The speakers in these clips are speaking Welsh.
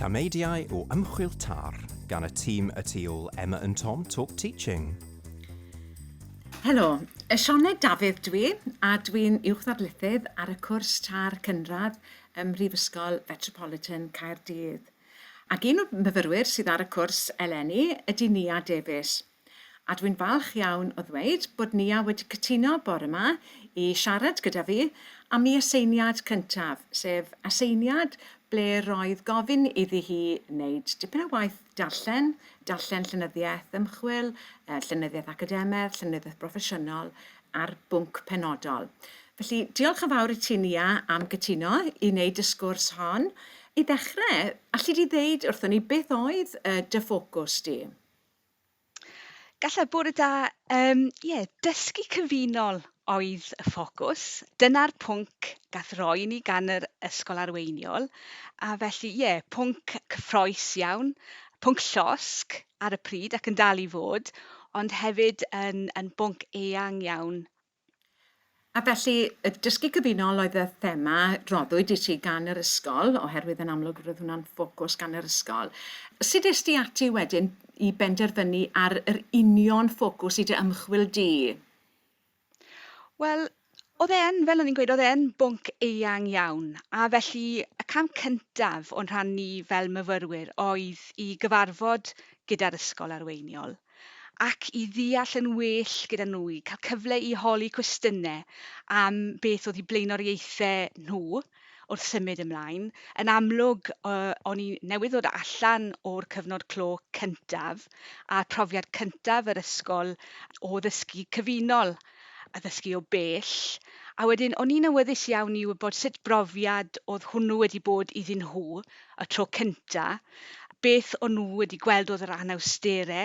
Tameidiau o ymchwil tar gan y tîm y tu ôl Emma and Tom Talk Teaching. Helo, Sioned Dafydd dwi, a dwi'n uwchddarlithydd ar y cwrs tar cynradd ym Mhrifysgol Fetropolitan Caerdydd. Ac un o'r myfyrwyr sydd ar y cwrs eleni ydy Nia Davies. A dwi'n falch iawn o ddweud bod Nia wedi cytuno bore 'ma i siarad gyda fi am ei aseiniad cyntaf, sef aseiniad ble roedd gofyn iddi hi wneud dipyn o waith darllen, darllen llenyddiaeth ymchwil, llenyddiaeth academaidd, llenyddiaeth broffesiynol ar bwnc penodol. Felly, diolch yn fawr i ti Nia am gytuno i wneud y sgwrs hon. I ddechrau, alli di ddeud wrthon ni beth oedd dy ffocws di? Gallai bore da, um, ie, yeah, dysgu cyfunol oedd y ffocws. Dyna'r pwnc gath roi ni gan yr ysgol arweiniol, a felly, ie, yeah, pwnc cyffroes iawn, pwnc llosg ar y pryd ac yn dal i fod, ond hefyd yn, yn bwnc eang iawn A felly, y dysgu cyfunol oedd y thema roddwyd i ti gan yr ysgol, oherwydd yn amlwg roedd hwnna'n ffocws gan yr ysgol. Sut es di ati wedyn i benderfynu ar yr union ffocws i dy ymchwil di? Wel, oedd e'n, fel o'n i'n gweud, oedd e'n bwnc eang iawn, a felly y cam cyntaf o'n rhan ni fel myfyrwyr oedd i gyfarfod gyda'r ysgol arweiniol. ac i ddeall yn well gyda nhw, i cael cyfle i holi cwestiynau am beth oedd eu blaenoriaethau nhw wrth symud ymlaen. Yn amlwg, o'n i newydd ddod allan o'r cyfnod clo cyntaf, a'r profiad cyntaf yr ysgol o ddysgu cyfunol. a ddysgu o bell, a wedyn o'n i'n awyddus iawn i wybod sut brofiad oedd hwnnw wedi bod iddyn nhw y tro cynta, beth o'n nhw wedi gweld oedd yr anawstere,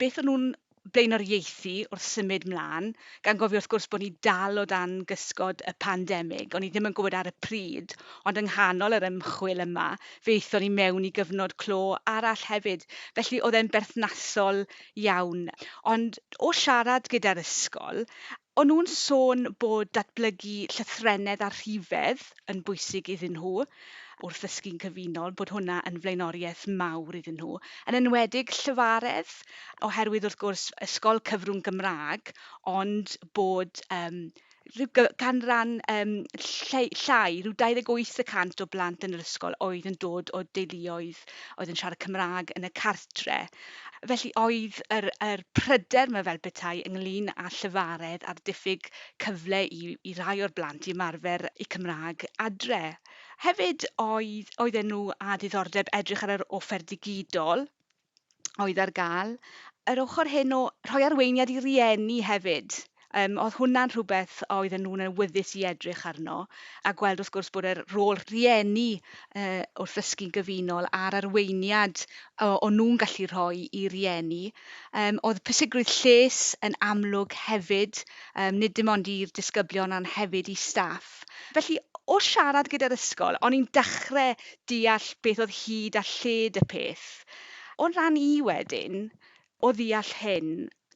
beth o'n nhw'n blaenoriaethu wrth symud 'mlan, gan gofio wrth gwrs bod ni dal o dan gysgod y pandemig, o'n i ddim yn gwybod ar y pryd, ond yng nghanol yr ymchwil yma fe aethon ni mewn i gyfnod clo arall hefyd, felly oedd e'n berthnasol iawn, ond o siarad gyda'r ysgol, o'n nhw'n sôn bod datblygu llythrennedd a rhifedd yn bwysig iddyn nhw wrth ddysgu'n cyfunol, bod hwnna yn flaenoriaeth mawr iddyn nhw, yn enwedig Llywaredd, oherwydd wrth gwrs ysgol cyfrwng Gymraeg, ond bod yym rhyw ganran um, llai, llai, rhyw 28 y cant o blant yn yr ysgol oedd yn dod o deuluoedd oedd yn siarad Cymraeg yn y cartre. Felly oedd yr, yr pryder yma fel bethau ynglyn â llyfaredd a'r diffyg cyfle i, i rai o'r blant i ymarfer y Cymraeg adre. Hefyd oedd, oedd enw a diddordeb edrych ar yr offer digidol, oedd ar gael. Yr ochr hyn o rhoi arweiniad i rieni hefyd, um, oedd hwnna'n rhywbeth a oedden nhw'n awyddus i edrych arno a gweld wrth gwrs bod yr rôl rieni uh, wrth ddysgu'n gyfunol a'r arweiniad o, o nhw'n gallu rhoi i rieni. Um, oedd pwysigrwydd lles yn amlwg hefyd, um, nid dim ond i'r disgyblion ond hefyd i staff. Beth. Felly, o siarad gyda'r ysgol, o'n i'n dechre deall beth oedd hyd a lled y peth. O'n rhan i wedyn, o ddeall hyn,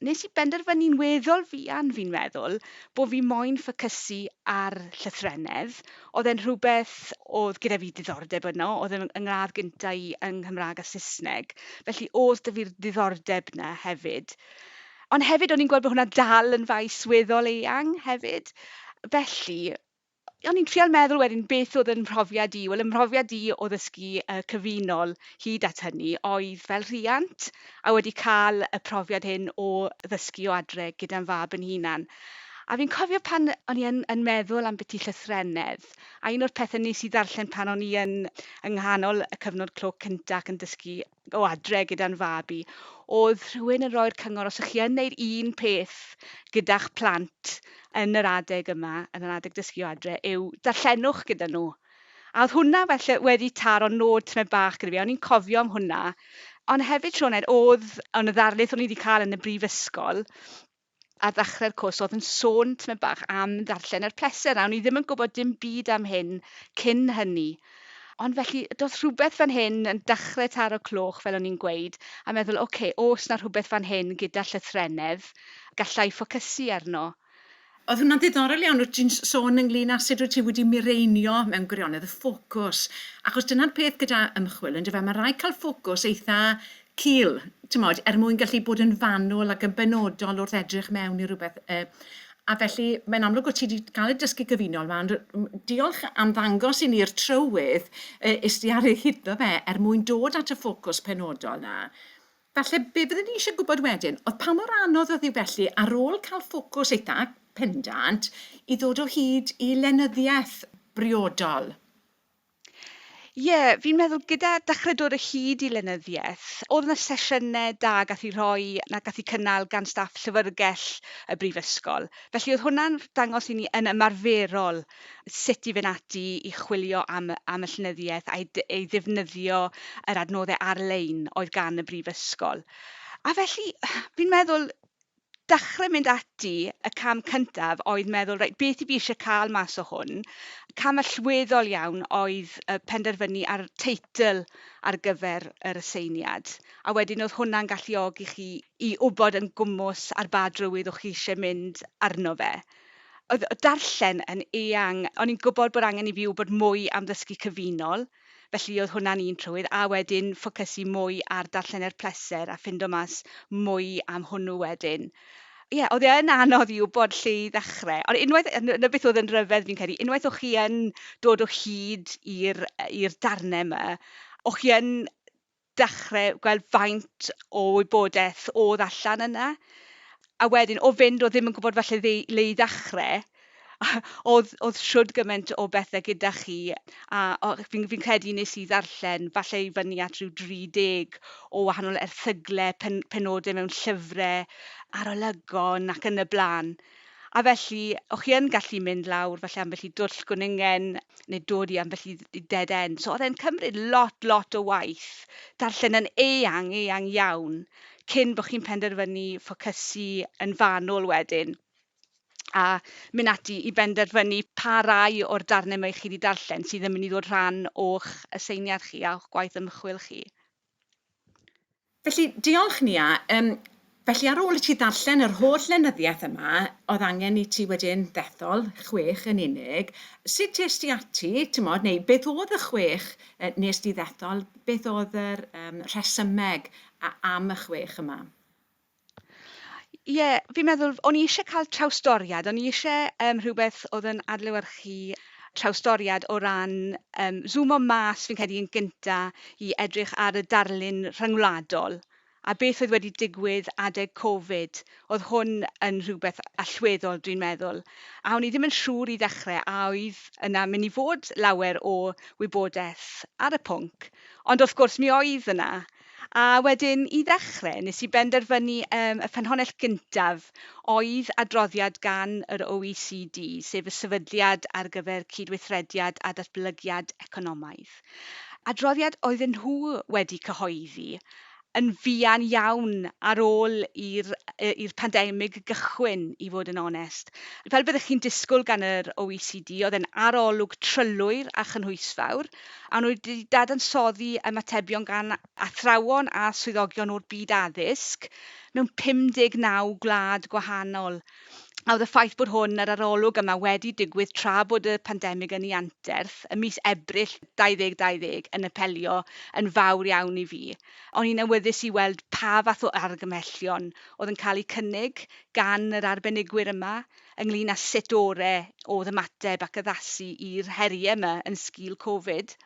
nes i benderfynu'n weddol fuan, fi'n meddwl, bo' fi moyn ffocysu ar llythrennedd. Oedd e'n rhywbeth oedd gyda fi diddordeb yno, oedd yn yn ngradd gynta' i yng Nghymrâg a Saesneg, felly o'dd 'da fi'r ddiddordeb 'na hefyd. Ond hefyd o'n i'n gweld bod hwnna dal yn faes weddol eang hefyd. Felly, o'n i'n trial meddwl wedyn beth oedd yn mhrofiad i. Wel, yn mhrofiad i o ddysgu uh, cyfunol hyd at hynny oedd fel rhiant a wedi cael y profiad hyn o ddysgu o adre gyda'n fab yn hunan. A fi'n cofio pan o'n i yn, yn meddwl am beth i llythrenedd, a un o'r pethau nes i ddarllen pan o'n i yn yng nghanol y cyfnod clo cynta ac yn dysgu o adre gyda'n fab i, o'dd rhywun yn roi'r cyngor os 'ych chi yn neud un peth gyda'ch plant yn yr adeg yma, yn yr adeg dysgu o adre, yw darllenwch gyda nhw. A o'dd hwnna felly wedi taro nôd tymed bach gyda fi, o'n i'n cofio am hwnna. Ond hefyd, Sioned, o'dd yn y ddarlith o'n i wedi cael yn y brifysgol, ar ddechre'r cwrs oedd yn sôn tymed bach am ddarllen er pleser, a o'n i ddim yn gwybod dim byd am hyn cyn hynny. Ond felly, doedd rhywbeth fan hyn yn dechrau taro cloch, fel o'n i'n gweud, a meddwl, oce, okay, os na rhywbeth fan hyn gyda llythrennedd, gallai ffocysu arno. Oedd hwnna'n ddiddorol iawn, wyt ti'n sôn ynglyn â sut wyt ti wedi mireinio mewn gwirionedd y ffocws, achos dyna'r peth gyda ymchwil, yndyfe, mae rhaid cael ffocws eitha cul, timod, er mwyn gallu bod yn fanwl ac yn benodol wrth edrych mewn i rywbeth. Uh, a felly, mae'n amlwg bod ti wedi cael y dysgu gyfunol yma, ond diolch am ddangos i ni'r trywydd uh, is di ar ei hyddo fe er mwyn dod at y ffocws penodol na. Felly, be byddwn ni eisiau gwybod wedyn, oedd pa mor anodd oedd hi felly ar ôl cael ffocws eitha pendant i ddod o hyd i lenyddiaeth briodol? Ie, fi'n meddwl gyda dechrau dod o hyd i lenyddiaeth, oedd yna sesiynau da gath i rhoi na gath i cynnal gan staff llyfrgell y brifysgol. Felly oedd hwnna'n dangos i ni yn ymarferol sut i fynd ati i chwilio am, am y llenyddiaeth a'i ei ddefnyddio yr adnoddau ar-lein oedd gan y brifysgol. A felly, fi'n meddwl, dechrau mynd ati, y cam cyntaf oedd meddwl, reit, beth i fi eisiau cael mas o hwn? Cam allweddol iawn oedd penderfynu ar teitl ar gyfer yr aseiniad, a wedyn oedd hwnna'n galluogi chi i wybod yn gwmws ar ba drywydd o'ch chi eisiau mynd arno fe. Oedd darllen yn eang, o'n i'n gwybod bod angen i fi wybod mwy am ddysgu cyfunol, Felly oedd hwnna'n un trywydd, a wedyn ffocysu mwy ar darllen er pleser a ffindo mas mwy am hwnnw wedyn. Ie, yeah, oedd e yn anodd i wybod lle i ddechrau. Ond unwaith, na beth oedd yn rhyfedd fi'n credu, unwaith o'ch chi yn dod o hyd i'r darnau yma, o'ch chi yn dechrau gweld faint o wybodaeth oedd allan yna. A wedyn, o fynd o ddim yn gwybod falle dde, le i ddechrau, oedd, oedd siwrd gymaint o bethau gyda chi, a fi'n fi credu nes i ddarllen falle i fyny at rhyw 30 o wahanol erthyglau, pen, penodau mewn llyfrau, arolygon ac yn y blaen. A felly, o'ch chi yn gallu mynd lawr falle ambell i dwll gwningen neu dod i ambell i i dead end. So o'dd e'n cymryd lot, lot o waith darllen yn eang, eang iawn cyn bo' chi'n penderfynu ffocysu yn fanwl wedyn a myn' ati i benderfynu pa rai o'r darne 'ma 'ych chi 'di darllen sydd yn myn' i ddod rhan o'ch aseiniad chi a o'ch gwaith ymchwil chi. Felly, diolch Nia. Um, felly ar ôl i ti ddarllen yr holl lenyddiaeth yma, oedd angen i ti wedyn ddethol chwech yn unig. Sut es ti ati, tymod, neu beth oedd y chwech uh, nes ti ddethol? Beth oedd yr um, rhesymeg am y chwech yma? Ie, fi'n meddwl, o'n i eisiau cael trawsdoriad, o'n i eisiau um, rhywbeth oedd yn adlewyrchu trawsdoriad o ran um, zoomo mas fi'n credu yn gynta i edrych ar y darlun rhyngwladol a beth oedd wedi digwydd adeg Covid. Oedd hwn yn rhywbeth allweddol, dwi'n meddwl. A o'n i ddim yn siŵr i ddechrau a oedd yna mynd i fod lawer o wybodaeth ar y pwnc. Ond wrth gwrs, mi oedd yna. A wedyn, i ddechrau, nes i benderfynu um, y ffynhonnell gyntaf oedd adroddiad gan yr OECD, sef y Sefydliad ar gyfer Cydweithrediad a Datblygiad Economaidd. Adroddiad oedden nhw wedi cyhoeddi yn fuan iawn ar ôl i'r pandemig gychwyn, i fod yn onest. Fel byddwch chi'n disgwyl gan yr OECD, oedd e'n arolwg trylwyr a chynhwysfawr, a nhw wedi dadansoddi ymatebion gan athrawon a swyddogion o'r byd addysg mewn 59 gwlad gwahanol. A oedd y ffaith bod hwn, yr arolwg yma, wedi digwydd tra bod y pandemig yn ei anterth, y mis Ebrill 2020, yn apelio yn fawr iawn i fi. O'n i'n awyddus i weld pa fath o argymhellion oedd yn cael eu cynnig gan yr arbenigwyr yma, ynglŷn â sut ore oedd ymateb ac addasu i'r heriau yma yn sgil Covid.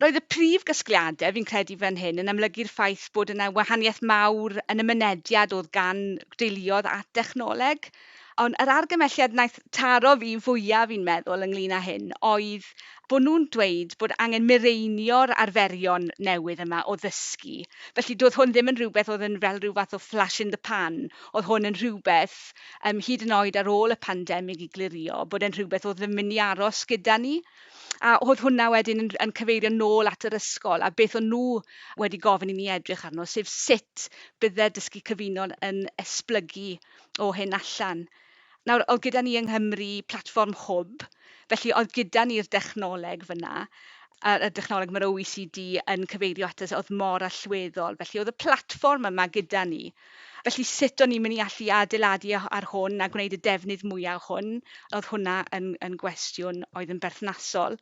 Roedd y prif gasgliadau, fi'n credu fan hyn, yn amlygu'r ffaith bod yna wahaniaeth mawr yn y mynediad oedd gan deuluodd at dechnoleg. Ond yr argymelliad wnaeth taro fi fwyaf, fi'n meddwl, ynglŷn â hyn, oedd bod nhw'n dweud bod angen mireinio'r arferion newydd yma o ddysgu. Felly doedd hwn ddim yn rhywbeth oedd yn fel rhyw fath o flash in the pan, Oedd hwn yn rhywbeth, yym, hyd yn oed ar ôl y pandemig i glirio, bod e'n rhywbeth oedd yn mynd i aros gyda ni. A oedd hwnna wedyn yn, yn cyfeirio nôl at yr ysgol a beth o'n nhw wedi gofyn i ni edrych arno, sef sut bydde'r dysgu cyfunol yn esblygu o hyn allan. Nawr, oedd gyda ni yng Nghymru platfform Hwb, felly oedd gyda ni'r dechnoleg fan'na, a'r y dechnoleg mae'r OECD yn cyfeirio ato fe, oedd mor allweddol. Felly oedd y platfform yma gyda ni. Felly sut o'n i'n mynd i allu adeiladu a- ar hwn a gwneud y defnydd mwya' o hwn? Oedd hwnna yn yn gwestiwn oedd yn berthnasol.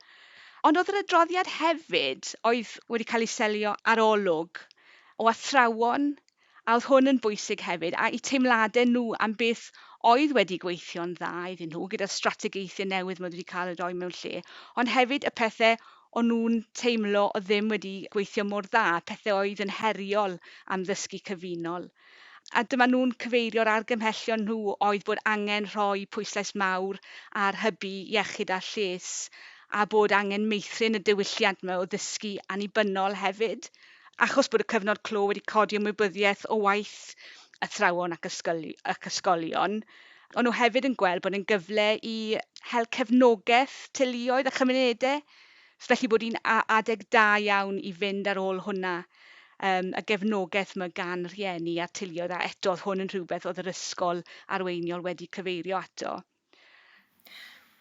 Ond oedd yr adroddiad hefyd oedd wedi cael ei selio ar olwg o athrawon a oedd hwn yn bwysig hefyd, a'u teimladau nhw am beth oedd wedi gweithio'n dda iddyn nhw gyda'r strategaethau newydd maen nhw wedi cael eu rhoi mewn lle, ond hefyd y pethau o'n nhw'n teimlo oedd ddim wedi gweithio mor dda, pethau oedd yn heriol am ddysgu cyfunol. A dyma nhw'n cyfeirio'r argymhellion nhw oedd bod angen rhoi pwyslais mawr ar hybu iechyd a lles a bod angen meithrin y diwylliant yma o ddysgu annibynnol hefyd. achos bod y cyfnod clo wedi codi ymwybyddiaeth o waith athrawon ac ysgoli- ac ysgolion, ond nhw hefyd yn gweld bod yn gyfle i hel cefnogaeth teuluoedd a chymunedau, felly bod hi'n a- adeg da iawn i fynd ar ôl hwnna, um, y gefnogaeth mae gan rhieni a teuluoedd, a eto oedd hwn yn rhywbeth oedd yr ysgol arweiniol wedi cyfeirio ato.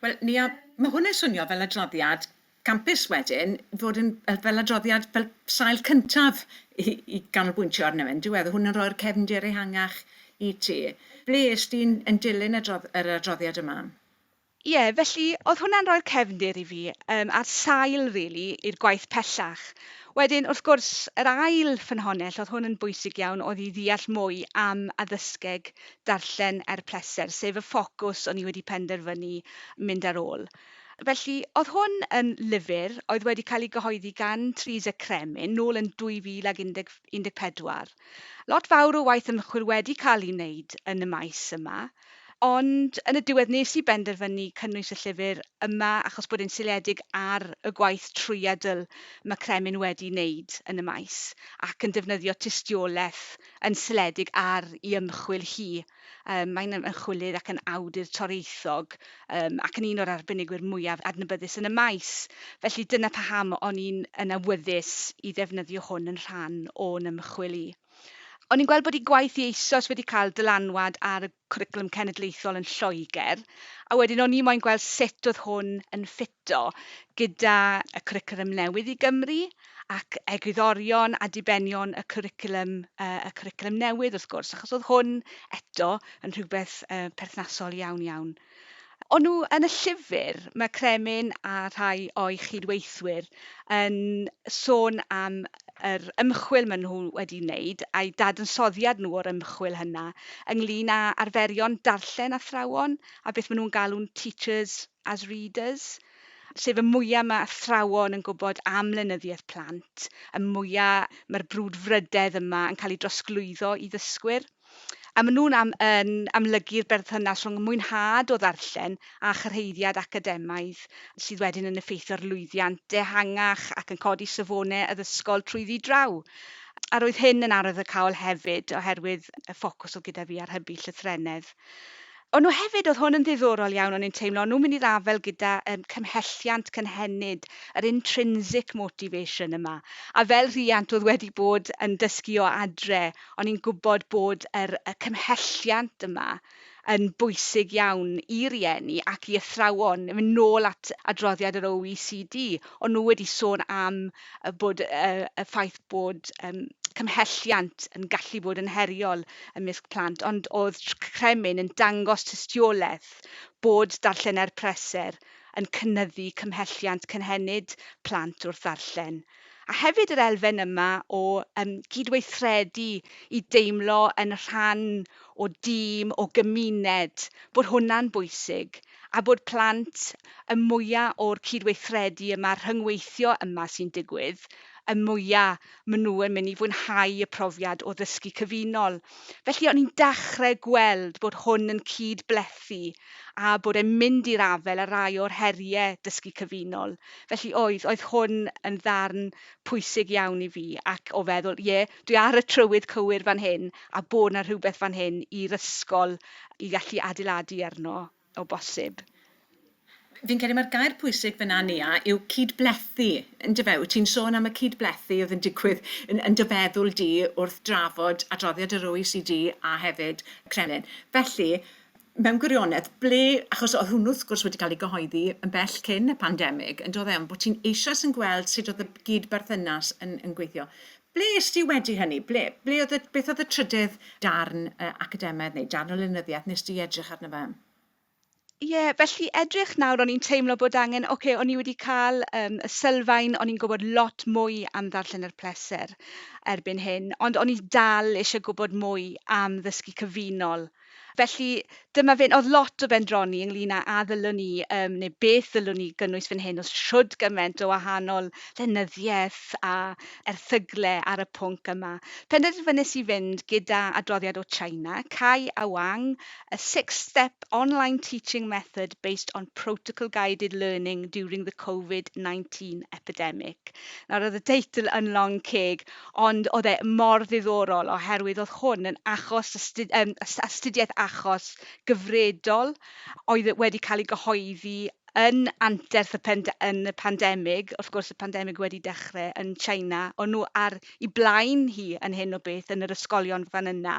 Wel, Nia, mae hwn yn swnio fel adroddiad campus wedyn, fod yn fel adroddiad fel sail cyntaf i, i ganolbwyntio arno fe, yndyw e? Oedd hwn yn rhoi'r cefndir ehangach i ti. Ble ys ti'n yn dilyn adrodd, yr adroddiad yma? Ie, felly, oedd hwnna'n rhoi'r cefndir i fi, um, a'r sail, really, i'r gwaith pellach. Wedyn, wrth gwrs, yr ail ffynhonnell, oedd hwn yn bwysig iawn, oedd i ddeall mwy am addysgeg darllen er pleser, sef y ffocws o'n i wedi penderfynu mynd ar ôl. Felly, oedd hwn yn lyfr oedd wedi cael ei gyhoeddi gan Teresa Cremin nôl yn 2014. Lot fawr o waith ymchwil wedi cael ei wneud yn y maes yma, ond yn y diwedd nes i benderfynu cynnwys y llyfr yma achos bod e'n seiliedig ar y gwaith trwyadl mae Cremin wedi wneud yn y maes ac yn defnyddio tystiolaeth yn seiliedig ar ei ymchwil hi. Yym mae'n ymchwilydd ac yn awdur torieithog yym ac yn un o'r arbenigwyr mwyaf adnabyddus yn y maes. Felly dyna paham o'n i'n yn awyddus i ddefnyddio hwn yn rhan o'n ymchwil i. O'n i'n gweld bod ei gwaith hi eisoes wedi cael dylanwad ar y cwricwlwm cenedlaethol yn Lloegr, a wedyn o'n i moyn gweld sut oedd hwn yn ffito gyda y cwricwlwm newydd i Gymru, ac egwyddorion a dibenion y cwricwlwm, yy, y cwricwlwm newydd wrth gwrs, achos oedd hwn, eto, yn rhywbeth, yy, perthnasol iawn iawn. O'n nhw yn y llyfr, mae Kremin a rhai o'i chyd-weithwyr yn sôn am yr ymchwil maen nhw wedi wneud a'u dadansoddiad nhw o'r ymchwil hynna ynglŷn â arferion darllen athrawon a beth maen nhw'n galw'n teachers as readers, sef y mwya mae athrawon yn gwybod am lenyddiaeth plant, y mwya mae'r brwdfrydedd yma yn cael ei drosglwyddo i ddysgwyr. A maen nhw'n am, yn amlygu'r berthynas rhwng mwynhad o ddarllen a chyrhaeddiad academaidd, sydd wedyn yn effeithio'r lwyddiant dehangach ac yn codi safonau addysgol trwyddi draw. A roedd hyn yn arwyddocaol hefyd oherwydd y ffocws oedd gyda fi ar hybu llythrennedd. O'n nhw hefyd, oedd hwn yn ddiddorol iawn, o'n i'n teimlo, o'n nhw'n mynd i ddafel gyda yym cymhelliant cynhenid, yr intrinsic motivation yma. A fel rhiant oedd wedi bod yn dysgu o adre, o'n i'n gwybod bod yr y cymhelliant yma yn bwysig iawn i rieni ac i athrawon. Yn mynd nôl at adroddiad yr OECD, o'n nhw wedi sôn am a bod y y ffaith bod yym cymhelliant yn gallu bod yn heriol ymysg plant ond o'dd tr- c- cremyn yn dangos tystioleth bod darllener preser yn cynyddu cymhelliant cynhenid plant wrth ddarllen. A hefyd yr elfen yma o yym gydweithredu i deimlo yn rhan o dîm, o gymuned, bod hwnna'n bwysig. a bod plant y mwya o'r cydweithredu yma, rhyngweithio yma sy'n digwydd, y mwya maen nhw yn mynd i fwynhau y profiad o ddysgu cyfunol. Felly o'n i'n dechrau gweld bod hwn yn cyd-blethu a bod e'n mynd i'r afael â rai o'r heriau dysgu cyfunol. Felly oedd, oedd hwn yn ddarn pwysig iawn i fi ac o feddwl, ie, dwi ar y trywydd cywir fan hyn a bod 'na rhywbeth fan hyn i'r ysgol i allu adeiladu arno o bosib. Fi'n credu mai'r gair pwysig fan'na Nia yw cyd-blethu, yndyfe? Wyt ti'n sôn am y cyd-blethu oedd yn digwydd yn yn dy feddwl di wrth drafod adroddiad yr OECD a hefyd Kremlin. Felly, mewn gwirionedd, ble, achos oedd hwnnw wrth gwrs wedi cael ei gyhoeddi yn bell cyn y pandemig, yn doedd e, ond bod ti'n eisoes yn gweld sut oedd y gyd-berthynas yn yn gweithio. Ble est ti wedi hynny? Ble, ble oedd y, beth oedd y trydydd darn uh, academaidd neu darn o lenyddiaeth nes di edrych arno fe? Ie, yeah, felly edrych nawr o'n i'n teimlo bod angen, oce, okay, o'n i wedi cael um, y sylfaen, o'n i'n gwybod lot mwy am ddarllen yr pleser erbyn hyn, ond o'n i dal eisiau gwybod mwy am ddysgu cyfunol Felly, dyma fe'n... Oedd lot o bendroni ynglyn â a ddylwn ni, um, neu beth ddylwn ni gynnwys fan hyn, os siwrd gymaint o wahanol llenyddiaeth a erthygle ar y pwnc yma. Penderfynais i fynd gyda adroddiad o China, Cai a Wang, a six-step online teaching method based on protocol-guided learning during the Covid-19 epidemic. Nawr, oedd y teitl yn long ceg, Ond oedd e mor ddiddorol oherwydd oedd hwn yn achos astu- yym as- astudiaeth achos gyfredol oedd e wedi cael ei gyhoeddi yn anterth y pand- yn y pandemig, wrth gwrs y pandemig wedi dechrau yn China, o'n nhw ar ei blaen hi yn hyn o beth yn yr ysgolion fan yna,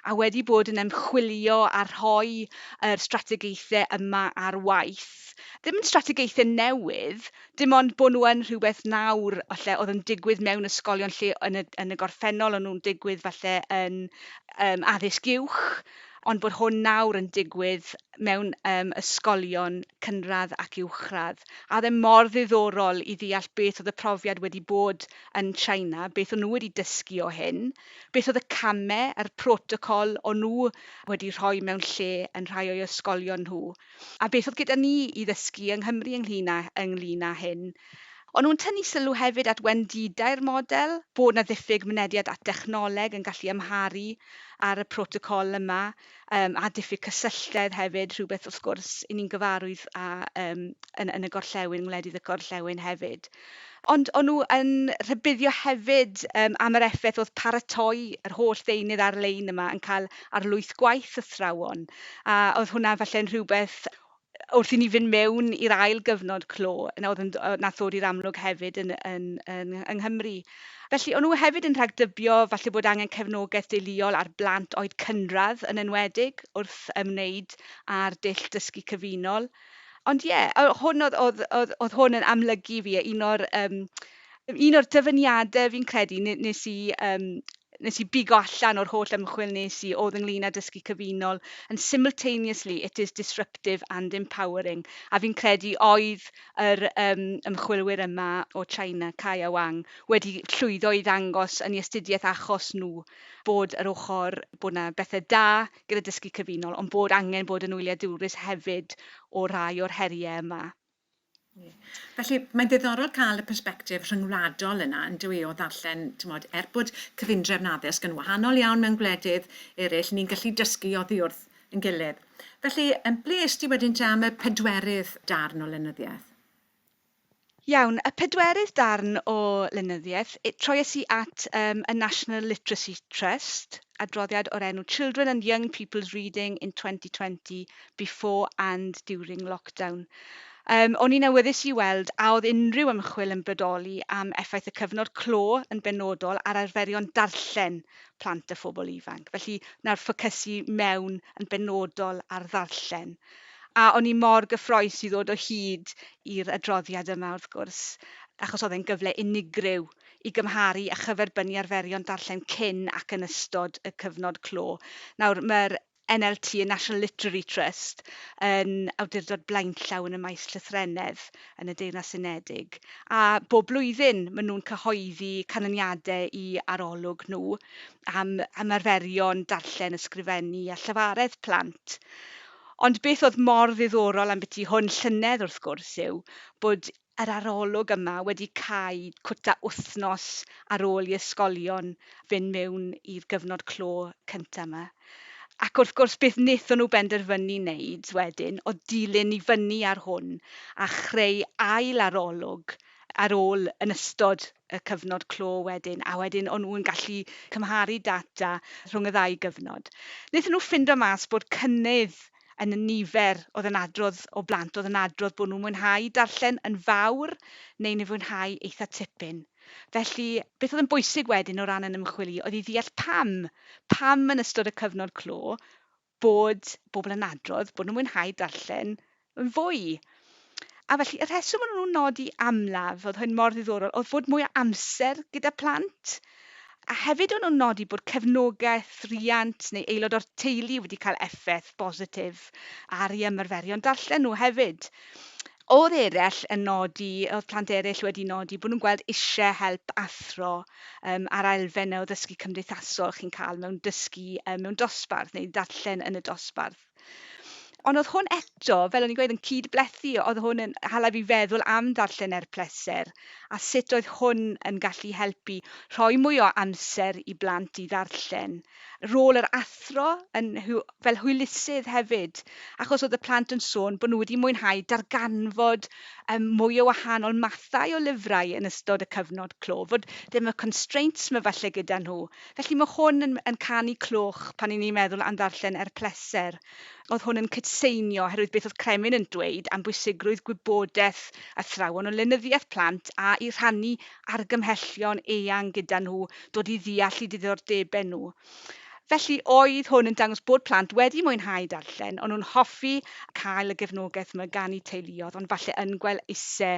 a wedi bod yn ymchwilio a rhoi yr strategaethau yma ar waith. Ddim yn strategaethau newydd, dim ond bod nhw yn rhywbeth nawr falle oedd yn digwydd mewn ysgolion lle yn y, yn y gorffennol o'n nhw'n digwydd falle yn um, addysg uwch, ond bod hwn nawr yn digwydd mewn um, ysgolion cynradd ac uwchradd. A ddim e mor ddiddorol i ddeall beth oedd y profiad wedi bod yn China, beth o'n nhw wedi dysgu o hyn, beth oedd y camau a'r protocol o'n nhw wedi rhoi mewn lle yn rhai o'i ysgolion nhw. A beth oedd gyda ni i ddysgu yng Nghymru ynglŷn â, ynglŷn â hyn? O'n nhw'n tynnu sylw hefyd at wendidau'r model, bod 'na ddiffyg mynediad at dechnoleg yn gallu amharu ar y protocol yma, um, a diffyg cysylltedd hefyd, rhywbeth wrth gwrs i ni'n gyfarwydd â um, yn, yn y gorllewin, ngwledydd y gorllewin hefyd. Ond o'n nhw yn rhybuddio hefyd yym am yr effaith oedd paratoi yr holl ddeunydd ar-lein yma yn cael ar lwyth gwaith athrawon, a oedd hwnna falle'n rhywbeth wrth i ni fynd mewn i'r ail gyfnod clo, yna oedd yn d- yy nath ddod i'r amlwg hefyd yn yn yn yng Nghymru. Felly o'n nhw hefyd yn rhagdybio falle bod angen cefnogaeth deuluol ar blant oed cynradd yn enwedig wrth ymwneud â'r dull dysgu cyfunol. Ond ie, o- hwn oedd oedd oedd oedd hwn yn amlygu fi, a un o'r yym un o'r dyfyniadau fi'n credu ne- nes i yym nes i bigo allan o'r holl ymchwil nes i oedd ynglyn â dysgu cyfunol yn simultaneously it is disruptive and empowering a fi'n credu oedd yr um, ymchwilwyr yma o China, Kai a Wang, wedi llwyddo i ddangos yn ei astudiaeth achos nhw bod yr ochr bod yna bethau da gyda dysgu cyfunol, ond bod angen bod yn wyliadwrus hefyd o rai o'r heriau yma. Felly, mae'n ddiddorol cael y persbectif rhyngwladol yna, yn dwi, o ddarllen, tymod, er bod cyfundrefn addysg yn wahanol iawn mewn gwledydd eraill, ni'n gallu dysgu oddi wrth yn gilydd. Felly, ble ys ti wedyn te am y pedwerydd darn o lenyddiaeth? Iawn, y pedwerydd darn o lenyddiaeth, troies i at um, y National Literacy Trust, adroddiad o'r enw Children and Young People's Reading in 2020, Before and During Lockdown. Um, o'n i'n awyddus i weld a oedd unrhyw ymchwil yn bodoli am effaith y cyfnod clo yn benodol ar arferion darllen plant a phobl ifanc. Felly, nawr ffocysu mewn yn benodol ar ddarllen A o'n i mor gyffroes i ddod o hyd i'r adroddiad yma, wrth gwrs, achos oedd e'n gyfle unigryw i gymharu a chyferbynnu arferion darllen cyn ac yn ystod y cyfnod clo. Nawr, mae'r NLT, y National Literary Trust, yn awdurdod blaenllaw yn y maes llythrennedd yn y Deyrnas Unedig, a bob blwyddyn maen nhw'n cyhoeddi canlyniadau i arolwg nhw, am ymarferion darllen, ysgrifennu a llafaredd plant. Ond beth oedd mor ddiddorol ambyti hwn llynedd wrth gwrs yw bod yr arolwg yma wedi cau cwta wythnos ar ôl i ysgolion fynd mewn i'r gyfnod clo cyntaf yma. Ac wrth gwrs beth wnaethon nhw benderfynu wneud wedyn oedd dilyn i fyny ar hwn a chreu ail arolwg ar ôl yn ystod y cyfnod clo wedyn, a wedyn o'n nhw'n gallu cymharu data rhwng y ddau gyfnod. Wnaethon nhw ffindo mas bod cynnydd yn y nifer oedd yn adrodd o blant oedd yn adrodd bod nhw'n mwynhau darllen yn fawr neu yn fwynhau eitha tipyn. Felly, beth oedd yn bwysig wedyn o ran yn ymchwil i oedd i ddeall pam, pam yn ystod y cyfnod clo bod pobl yn adrodd bod nhw'n mwynhau darllen yn fwy. A felly, y rheswm o'n nhw'n nodi amlaf, oedd hyn mor ddiddorol, oedd fod mwy o amser gyda plant. A hefyd o'n nhw'n nodi bod cefnogaeth riant neu aelod o'r teulu wedi cael effaith bositif ar ei ymarferion darllen nhw hefyd. O'dd eryll yn nodi, o'dd plant eryll wedi nodi bo' nhw'n gweld isie help athro yym ar elfen o ddysgu cymdeithasol chi'n ca'l mewn dysgu yy mewn dosbarth neu darllen yn y dosbarth. Ond o'dd hwn eto, fel o'n i'n gweud, yn cyd-blethu, o'dd hwn yn hala fi feddwl am ddarllen er pleser a sut oedd hwn yn gallu helpu rhoi mwy o amser i blant i ddarllen. rôl yr athro yn hwy- fel hwylusydd hefyd, achos oedd y plant yn sôn bod nhw wedi mwynhau darganfod um, mwy o wahanol mathau o lyfrau yn ystod y cyfnod clo, fod ddim y constraints mae falle gyda nhw. Felly mae hwn yn, yn canu cloch pan ni'n meddwl am ddarllen er pleser. Oedd hwn yn cydseinio oherwydd beth oedd Kremlin yn dweud am bwysigrwydd gwybodaeth athrawon o lenyddiaeth plant a'u rhannu argymhellion eang gyda nhw, dod i ddeall eu diddordebau nhw. Felly, oedd hwn yn dangos bod plant wedi mwynhau darllen, o'n nhw'n hoffi cael y gefnogaeth yma gan eu teuluoedd, ond falle yn gwel'ise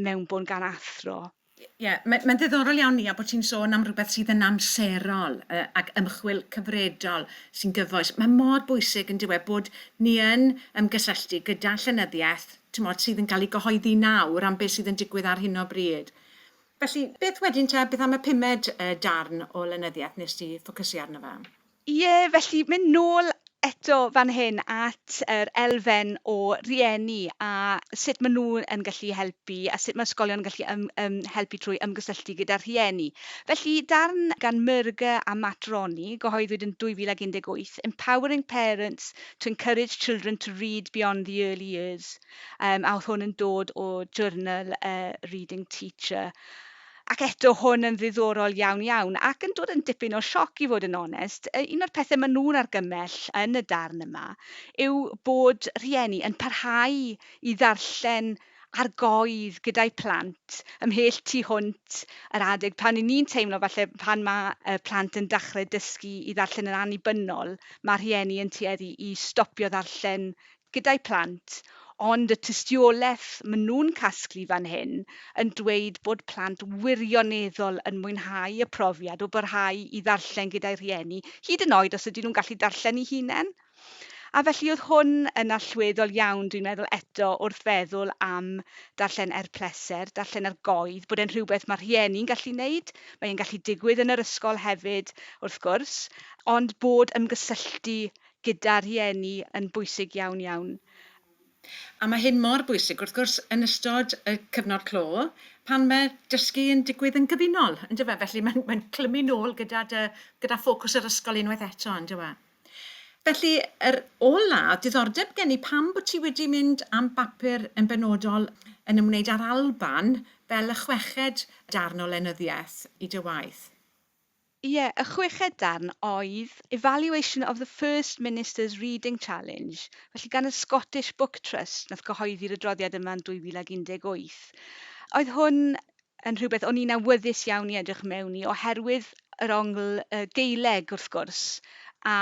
mewnbwn gan athro. Ie, ie, mae- mae'n ddiddorol iawn Nia bod ti'n sôn am rywbeth sydd yn amserol yy, ac ymchwil cyfredol sy'n gyfoes. Mae mor bwysig yn dywe bod ni yn ymgysylltu gyda llenyddiaeth t'mod, sydd yn cael ei gyhoeddi nawr am beth sydd yn digwydd ar hyn o bryd. Felly, beth wedyn te, beth am y pumed uh, darn o lenyddiaeth nes ti ffocysu arno fe? Ie, felly mynd nôl eto fan hyn at yr elfen o rieni a sut maen nhw yn gallu helpu a sut mae ysgolion yn gallu ym, ym, helpu trwy ymgysylltu gyda rhieni. Felly, darn gan Myrghe a Matt Roney, gyhoeddwyd yn 2018, Empowering Parents to Encourage Children to Read Beyond the Early Years, um, a oedd hwn yn dod o journal uh, Reading Teacher. Ac eto, hwn yn ddiddorol iawn iawn, ac yn dod yn dipyn o sioc i fod yn onest, un o'r pethe ma' nhw'n argymell yn y darn yma yw bod rhieni yn parhau i ddarllen ar goedd gyda'u plant ymhell tu hwnt yr adeg pan 'yn ni'n teimlo falle pan ma' y plant yn dachre dysgu i ddarllen yn annibynnol ma' rhieni yn tueddu i stopio ddarllen gyda'i phlant, ond y tystiolaeth maen nhw'n casglu fan hyn yn dweud bod plant wirioneddol yn mwynhau y profiad o barhau i ddarllen gyda'u rhieni, hyd yn oed os ydyn nhw'n gallu darllen eu hunain. A felly oedd hwn yn allweddol iawn, dwi'n meddwl, eto wrth feddwl am darllen er pleser, darllen ar goedd, bod e'n rhywbeth mae rhieni'n gallu wneud, mae e'n gallu digwydd yn yr ysgol hefyd, wrth gwrs, ond bod ymgysylltu gyda rhieni yn bwysig iawn iawn. A mae hyn mor bwysig wrth gwrs yn ystod y cyfnod clo pan mae dysgu yn digwydd yn gyfunol yn dyw e? Felly mae'n mae'n clymu nôl gyda dy gyda ffocws yr ysgol unwaith eto yn dyw e? Felly yr ola o'dd diddordeb gen i pam bod ti wedi mynd am bapur yn benodol yn ymwneud â'r Alban fel y chweched darn o lenyddiaeth i dy waith? Ie, y chweched darn oedd Evaluation of the First Minister's Reading Challenge, felly gan y Scottish Book Trust, wnaeth gyhoeddi'r adroddiad yma yn 2018. Oedd hwn yn rhywbeth o'n i'n awyddus iawn i edrych mewn i oherwydd yr ongl y Gaeleg, wrth gwrs, a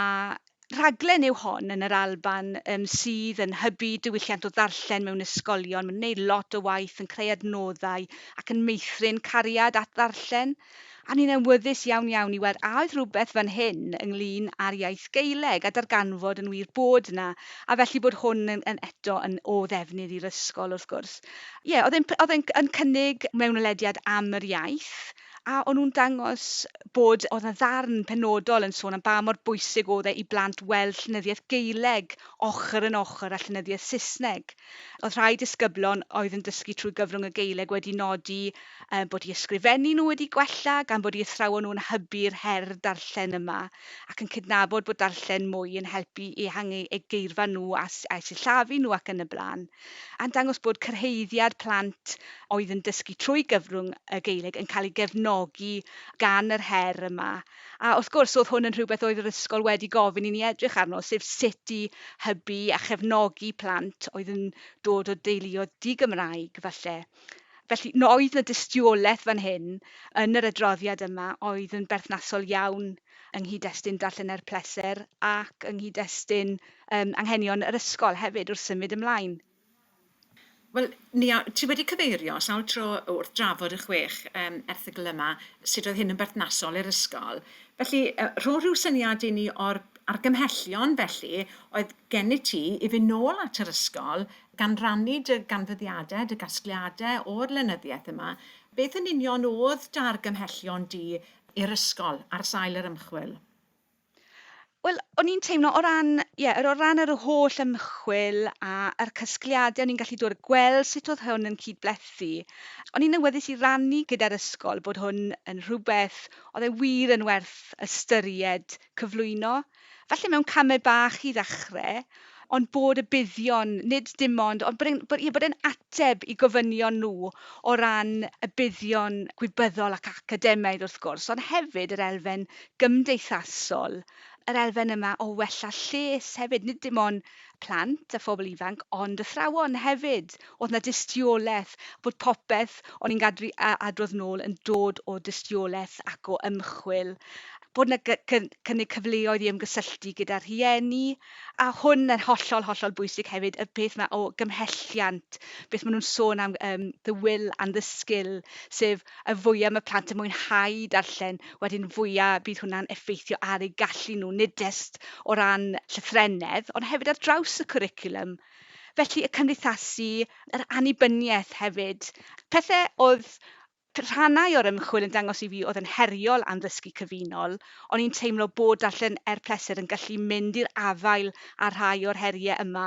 rhaglen yw hon yn yr Alban um, sydd yn hybu diwylliant o ddarllen mewn ysgolion. Mae'n gwneud lot o waith yn creu adnoddau ac yn meithrin cariad at ddarllen. A ni'n enwyddus iawn iawn i weld a oedd rhywbeth fan hyn ynglyn â'r iaith Geileg a darganfod yn wir bod yna, a felly bod hwn yn, yn eto yn o ddefnydd i'r ysgol wrth gwrs. Ie, yeah, oedd e'n oedd e'n yn cynnig mewnwelediad am yr iaith, A o'n nhw'n dangos bod... oedd 'na ddarn penodol yn sôn am ba mor bwysig oedd e i blant weld llenyddiaeth Gaeleg ochr yn ochr â llenyddiaeth Saesneg. Oedd rhai disgyblon oedd yn dysgu trwy gyfrwng y Gaeleg wedi nodi um, bod i ysgrifennu nhw wedi gwella gan bod i athrawon nhw'n hybu'r her darllen yma ac yn cydnabod bod darllen mwy yn helpu i ehangu eu geirfa nhw a, a sillafu nhw ac yn y blaen. a'n dangos bod cyrhaeddiad plant oedd yn dysgu trwy gyfrwng y Gaeleg yn cael ei gefnogi gan yr her yma. A wrth gwrs, oedd hwn yn rhywbeth oedd yr ysgol wedi gofyn i ni edrych arno, sef sut i hybu a chefnogi plant oedd yn dod o deuluoedd di-Gymraeg, falle. Felly, oedd 'na dystiolaeth fan hyn yn yr adroddiad yma oedd yn berthnasol iawn yng nghyd-destun Darllen er Pleser ac yng nghyd-destun um, Anghenion yr Ysgol hefyd wrth symud ymlaen. Wel, Nia, ti wedi cyfeirio sawl tro wrth drafod y chwech um, erthygl yma, sut oedd hyn yn berthnasol i'r ysgol. Felly, uh, rho rhyw syniad i ni o'r argymhellion felly oedd gennyt ti i fynd nôl at yr ysgol gan rannu dy ganfyddiadau, dy gasgliadau o'r lenyddiaeth yma. Beth yn union oedd dy argymhellion di i'r ysgol ar sail yr ymchwil? Wel, o'n i'n teimlo o ran, ie, o ran yr holl ymchwil a'r casgliadau o'n i'n gallu dod a gweld sut oedd hwn yn cyd-blethu, o'n i'n awyddus i rannu gyda'r ysgol bod hwn yn rhywbeth oedd e wir yn werth ystyried cyflwyno falle mewn camau bach i ddechrau, ond bod y buddion, nid dim ond, ond bod e'n, bod, ie, bod e'n ateb i gofynion nhw o ran y buddion gwybyddol ac academaidd wrth gwrs, ond hefyd yr elfen gymdeithasol, yr elfen yma o wella lles hefyd, nid dim ond plant a phobl ifanc ond athrawon hefyd, o'dd 'na dystiolaeth bod popeth o'n i'n gadw i a- adrodd nôl yn dod o dystiolaeth ac o ymchwil, bod 'na gy- cy- cynnig cyfleoedd i ymgysylltu gyda rhieni a hwn yn hollol, hollol bwysig hefyd y peth 'ma o gymhelliant, beth ma' nhw'n sôn am yym the will and the skill sef y fwya mae plant yn mwynhau darllen, wedyn fwya bydd hwnna'n effeithio ar eu gallu nhw, nid jest o ran llythrennedd, ond hefyd ar draws y cwricwlwm. Felly, y cymdeithasu, yr annibyniaeth hefyd. Pethe oedd rhannau o'r ymchwil yn dangos i fi oedd yn heriol am ddysgu cyfunol, o'n i'n teimlo bod darllen er pleser yn gallu mynd i'r afael â rhai o'r heriau yma,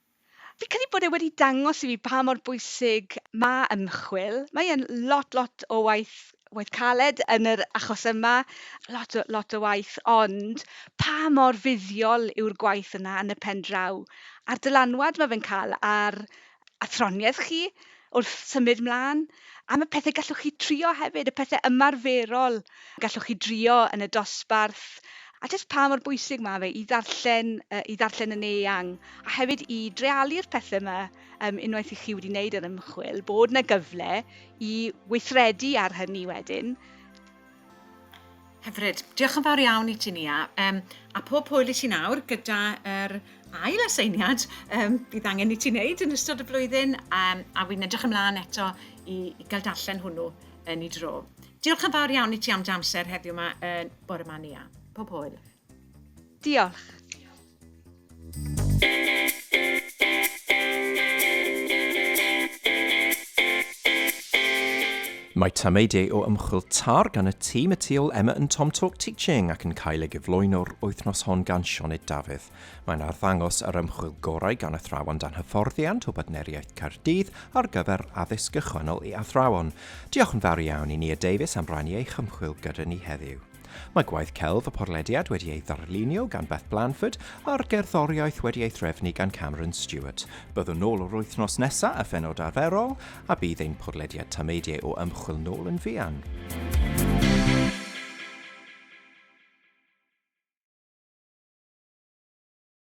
Fi'n credu bod e wedi dangos i fi pa mor bwysig mae ymchwil. Mae e'n lot, lot o waith waith caled yn yr achos yma, lot o, lot o waith, ond pa mor fuddiol yw'r gwaith yna yn y pen draw, a'r dylanwad mae fe'n cael ar athroniaeth chi, wrth symud mlaen, am y pethe gallwch chi trio hefyd, y pethe ymarferol gallwch chi drio yn y dosbarth, a jyst pa mor bwysig mae fe i ddarllen, uh, i ddarllen yn eang, a hefyd i drealu'r pethe yma um, unwaith i chi wedi wneud yr ymchwil, bod yna gyfle i weithredu ar hynny wedyn, Hyfryd. Diolch yn fawr iawn i ti Nia. Um, a pob hwyl i ti nawr gyda yr ail aseiniad um, bydd angen i ti wneud yn ystod y flwyddyn um, a wy'n edrych ymlaen eto i, i gael darllen hwnnw yn ei dro. Diolch yn fawr iawn i ti am dy amser heddiw yma yn bore yma Nia. Pob hwyl. Diolch. Mae tameidiau o ymchwil TAR gan y tîm y tu ôl Emma yn Tom Talk Teaching ac yn cael ei gyflwyno'r wythnos hon gan Sioned Dafydd. Mae'n arddangos yr ymchwil gorau gan athrawon dan hyfforddiant o Bartneriaeth Caerdydd ar gyfer addysg gychwynnol i athrawon. Diolch yn fawr iawn i Nia Davies am rannu ei chymchwil gyda ni heddiw. Mae gwaith celf y porlediad wedi ei ddarlunio gan Beth Blanford a'r gerddoriaeth wedi ei threfnu gan Cameron Stewart. Byddwn nôl yr wythnos nesaf a phenod arferol, a bydd ein porlediad tameidiau o ymchwil nôl yn fuan.